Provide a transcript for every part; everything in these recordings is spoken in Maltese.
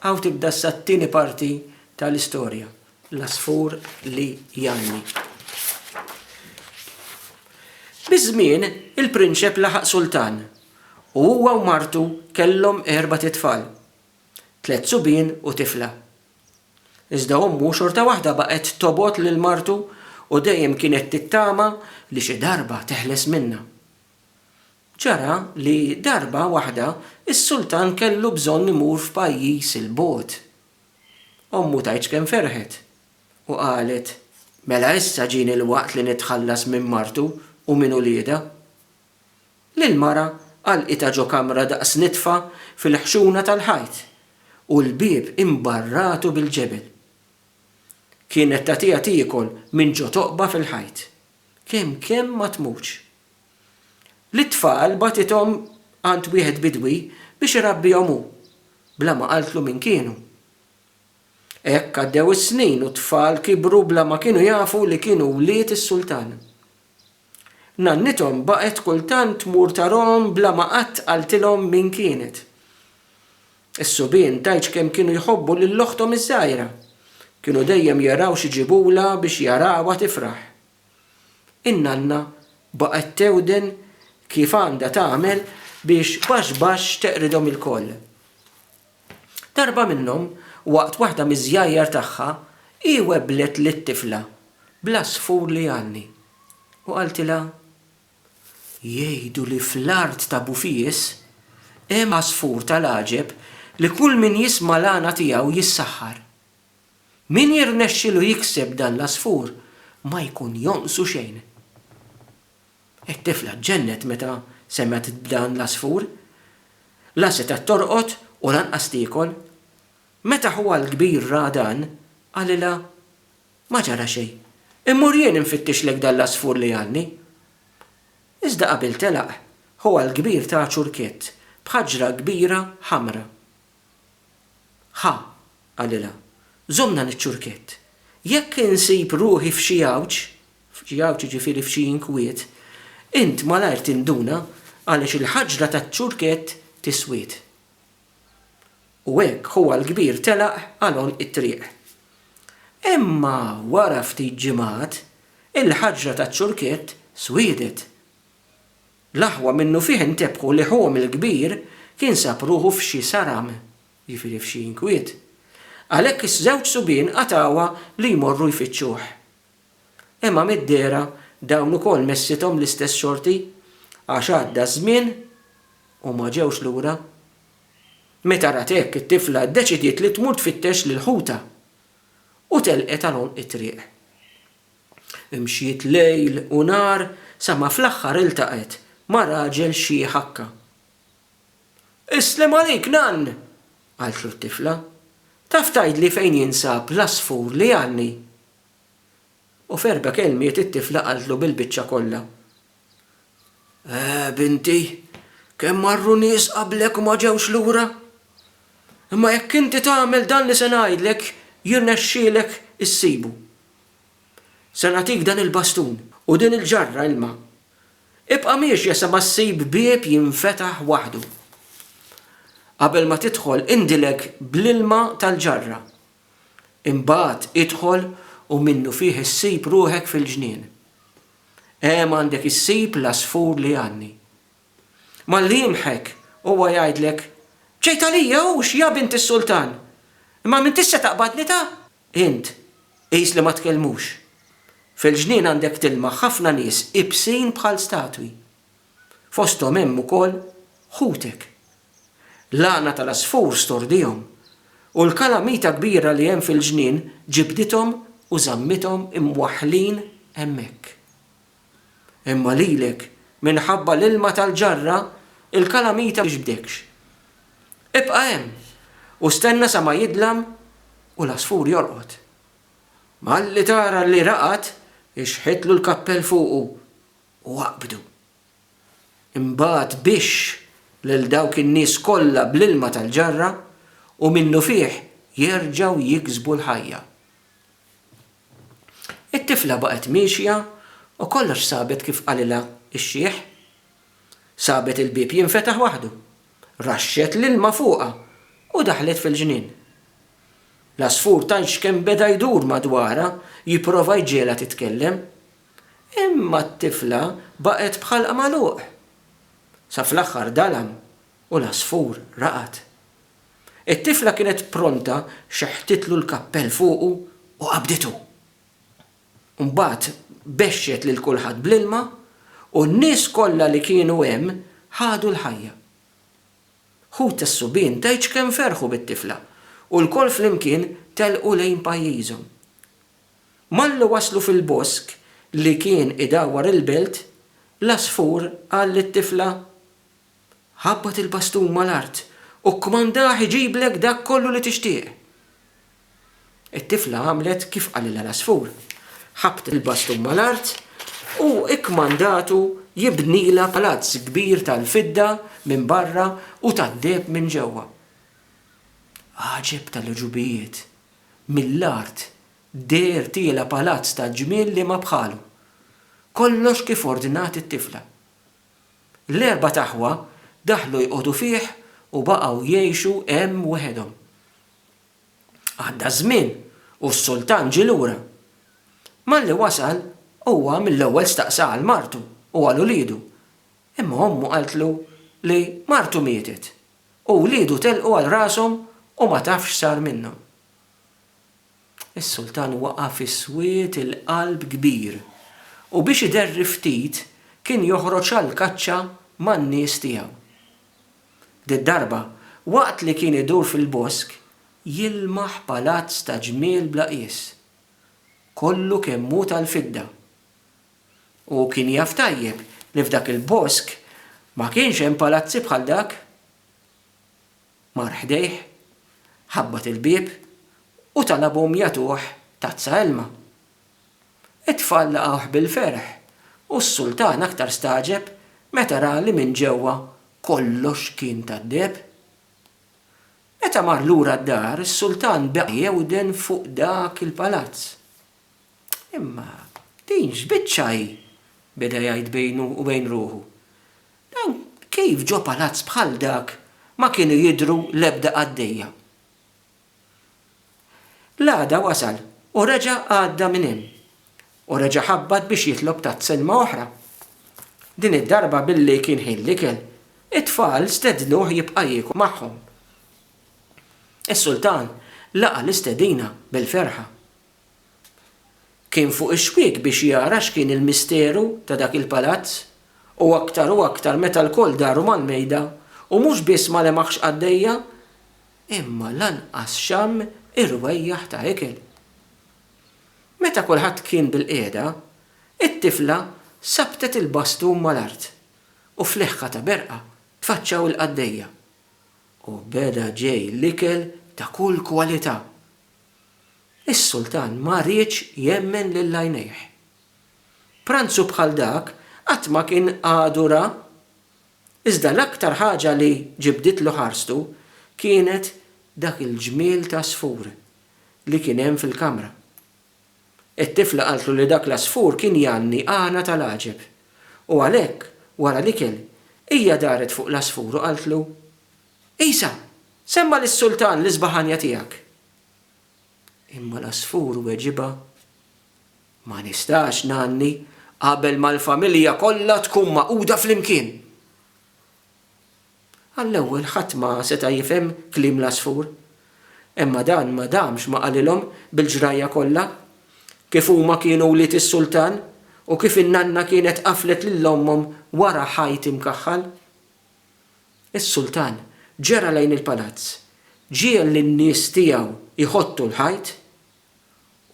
Hawn tibda issa t-tieni parti tal-istorja, L-Għasfur li Jgħanni. Biż-żmien, il-prinċep laħaq sultan u huwa u martu kellhom erbat itfal, tliet subien u tifla. Iżda ommu xorta waħda baqgħet tobgħod lil martu u dejjem kienet tittama li xi darba teħles minnha. Ġara li darba waħda s-sultan kellu bżonn imur f'pajjiż 'il bogħod. Ommu tgħidx kemm ferħet u qalet, Mela issa ġieni l-waqt li nitħallas minn martu u minn uliedha. L-mara għalqitha ġo kamra daqs nitfa fil-ħxuna tal-ħajt u l-bieb imbarratu bil-ġebel. Kienet tagħtiha tiekol minn ġo toqba fil-ħajt. Kemm kemm ma tmutx. Lit-tfal bagħtithom għand wieħed bidwi biex irabbihom hu, bla ma qaltlu min kienu. Hekk għaddew is-snin u t-tfal kibru bla ma kienu jafu li kienu wlied is-sultan. Nannithom baqgħet kultant tmur tarahom bla ma qatt qaltilhom min kienet. Is-subien tgħidx kemm kienu jħobbu lil oħthom iż-żgħira. Kienu dejjem jaraw xi jġibulha biex jarawha tifraħ. In-nanna baqgħet tewden kif għandha tagħmel biex baxx baxx teqridhom ilkoll. Darba minnhom, waqt waħda miż-żjajjar tagħha, hi webblet lit-tifla bl-għasfur li jgħanni u qaltilha, Jgħidu li fl-art ta' Bufies hemm għasfur tal-għaġeb li kull min jisma' l-għana tiegħu jissaħħar. Min jirnexxilu jikseb dan l-għasfur ma jkun jonqsu xejn. It-tifla ġġennet meta semgħet b'dan l-għasfur. La setgħet torqod u lanqas tiekol. Meta ħuha l-kbir ra dan, qalilha, Ma ġara xejn. Immur jien infittixlek dan l-għasfur li għalni. Iżda qabel telaq, ħuha l-kbir ta ċurkett b'ħaġra kbira ħamra. Ħa, qalilha, żommna niċ-ċurkett. Jekk insib ruħi f'xi għawġ, f'xi għawġ jiġifieri f'xi inkwiet, int malajr tinduna għaliex il-ħaġra taċ-ċurkett tiswiet. U hekk ħuha l-kbir telaq għal għonq it-triq. Imma wara ftit ġimgħat, il-ħaġra taċ-ċurkett swiedet. L-aħwa minnufih intebħu li ħuhom il-kbir kien sab ruħu f'xi saram, jiġifieri f'xi inkwiet. Għalhekk iż-żewġ subien qatgħuha li jmorru jfittxuh. Imma mid-dehra dawn ukoll messithom l-istess xorti għax għadda ż-żmien u ma ġewx lura. Meta rat hekk it-tifla ddeċidiet li tmur tfittex lil ħutha u telqet għal għonq it-triq. Mxiet lejl u nhar sa ma fl-aħħar iltaqgħet ma' raġel xi ħakka. Islem għalik, nann! qaltlu t-tifla. Taf tgħidli fejn jinsab l-għasfur li għandni? U f'erba' kelmiet it-tifla qaltlu bil-biċċa kollha Eh, binti, kemm marru nies qablek u ma ġewx lura? Imma jekk inti tagħmel dan li se ngħidlek, jirnexxielek issibu. Se nagħtik dan il-bastun u din il-ġarra ilma. Ibqa' miexja sa ma ssib bieb jinfetaħ waħdu. Qabel ma tidħol indilek bl-ilma tal-ġarra. Imbagħad idħol u minnufih issib ruħek fil-ġnien. Hemm għandek issib l-għasfur li għanni. Malli jimħek, huwa jgħidlek, B'ċejt għalija hux, ja bint is-sultan! Imma m'intix se taqbadni ta? Int, qis li ma tkellmux. Fil-ġnien għandek tilmaħ ħafna nies ibsin bħal statwi. fosthom hemm ukoll ħutek. L-għana tal-għasfur stordihom, u l-kalamita kbira li hemm fil-ġnien ġibdithom u żammithom imwaħħlin hemmhekk. Imma lilek, minħabba l-ilma tal-ġarra, il-kalamita ma tiġbdekx. Ibqa' hemm u stenna sa ma jidlam u l-għasfur jorqod. Malli tara li raqad, ixħitlu l-kappell fuqu. u aqbdu. Imbagħad bixx lil dawk in-nies kollha bl-ilma tal-ġarra u minnufih jerġgħu jiksbu l-ħajja. It-tifla baqgħet miexja u kollox sabet kif qalilha x-xiħ. Sabet il-bieb jinfetaħ waħdu, raxxet l-ilma fuqha u daħlet fil-ġnien. L-għasfur tgħidx kemm beda jdur madwarha jipprova jġiegħlha titkellem, Imma t-tifla baqgħet b'ħalqha magħluq. Sa fl-aħħar dalam u l-għasfur raqad. It-tifla kienet pronta xeħtitlu l-kappell fuqu u qabditu. Mbagħad bexxet lil kulħadd bl-ilma u n-nies kollha li kienu hemm ħadu l-ħajja. Ħut tas-subien tgħidx kemm ferħu bit-tifla u lkoll flimkien telqu lejn pajjiżhom. Malli waslu fil-bosk li kien idawwar il-belt, l-għasfur qal lit-tifla, Ħabbat il-bastun mal-art u kkmandah iġiblek dak kollu li tixtieq. It-tifla għamlet kif qalilha l-għasfur. Ħabbtet il-bastun mal-art u kkmandatu jibnilha palazz kbir tal-fidda minn barra u tad-deheb minn ġewwa. Għaġeb tal-għeġubijiet! Mill-art deher tiela' palazz ta' ġmiel li ma bħalu. Kollox kif ordnat it-tifla. L-erbat aħwa daħlu jqogħdu fih u baqgħu jgħixu hemm wehedhom. Għadda ż-żmien u s-sultan ġie lura. Malli wasal, huwa mill-ewwel staqsa għal martu u għal uliedu, imma ommu qaltlu li martu mietet. U wliedu telqu għal rashom u ma tafx x'sar minnhom. Is-sultan waqa' fi swied il-qalb kbir u biex iderri ftit kien joħroġ għall-kaċċa man-nies tiegħu. Did-darba, waqt li kien idur fil-bosk, jilmaħ palazz ta' ġmiel bla qies. Kollu kemm hu tal-fidda Hu kien jaf tajjeb li f'dak il-bosk ma kienx hemm palazzi bħal dak. Mar ħdejh, ħabbat il-bieb u talabhom jagħtuh tazza ilma. It-tfal laqgħuh bil-ferħ u s-sultan aktar stagħġeb meta ra li minn ġewwa kollox kien tad-deheb. Meta mar lura d-dar, is-sultan baqa' jewden fuq dak il-palazz. Imma din x'biċċa hi? beda jgħid bejnu u bejn ruħu. Dan kif ġo palazz bħal dak ma kienu jidhru l-ebda qaddejja? L-għada wasal u reġa' għadda minn hemm u reġa' ħabbat biex jitlob tazza ilma oħra. Din id-darba billi kien ħin l-ikel, it-tfal stednuh jibqa' jiekol magħhom. Is-sultan laqa' l-istedina bil-ferħa. Kien fuq ix-xwiek biex jara x'kien il-misteru ta' dak il-palazz u aktar u aktar meta lkoll daru mal-mejda u mhux biss ma lemaħx qaddejja imma lanqas xamm irwejjaħ ta' ikel. Meta kulħadd kien bilqiegħda, it-tifla sabbtet il-bastun mal-art u f'leħħa ta' berqa tfaċċaw il-qaddejja u beda ġej l-ikel ta' kull kwalità. Is-sultan ma riedx jemmen lil għajnejh. Pranzu bħal dak qatt ma kien għadu ra. Iżda l-aktar ħaġa li ġibditlu ħarstu kienet dak il-ġmiel t'għasfur li kien hemm fil-kamra. It-tifla qaltlu li dak l-għasfur kien jgħanni għana tal-għaġeb u għalhekk wara l-ikel hija daret fuq l-għasfur u qaltlu, Għisa, semma' lis-sultan l-isbaħanja tiegħek. Imma l-għasfur weġibha, Ma nistax, nanni, qabel ma l-familja kollha tkun magħquda flimkien. Għall-ewwel ħadd ma seta' jifhem kliem l-għasfur. Imma dan ma damx ma qalilhom bil-ġrajja kollha, kif huma kienu wlied is-sultan u kif in-nanna kienet qaflet lil ommhom wara ħajt imkaħħal. Is-sultan ġera lejn il-palazz, ġiegħel lin-nies tiegħu jħottu l-ħajt,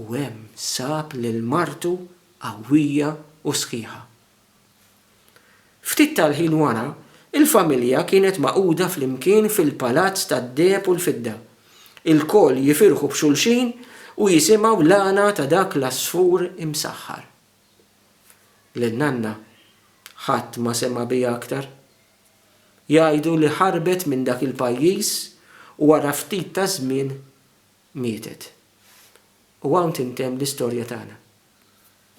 u hemm sab lil martu qawwija u sħiħa. Ftit tal-ħin wara, il-familja kienet magħquda flimkien fil-palazz tad-deheb u l-fidda, ilkoll jifirħu b'xulxin u jisimgħu l-għana ta' dak l-għasfur imsaħħar. lil nanna, ħadd ma sema' biha aktar. Jgħidu li ħarbet minn dak il-pajjiż u wara ftit ta' żmien mietet. U hawn tintemm l-istorja tagħna.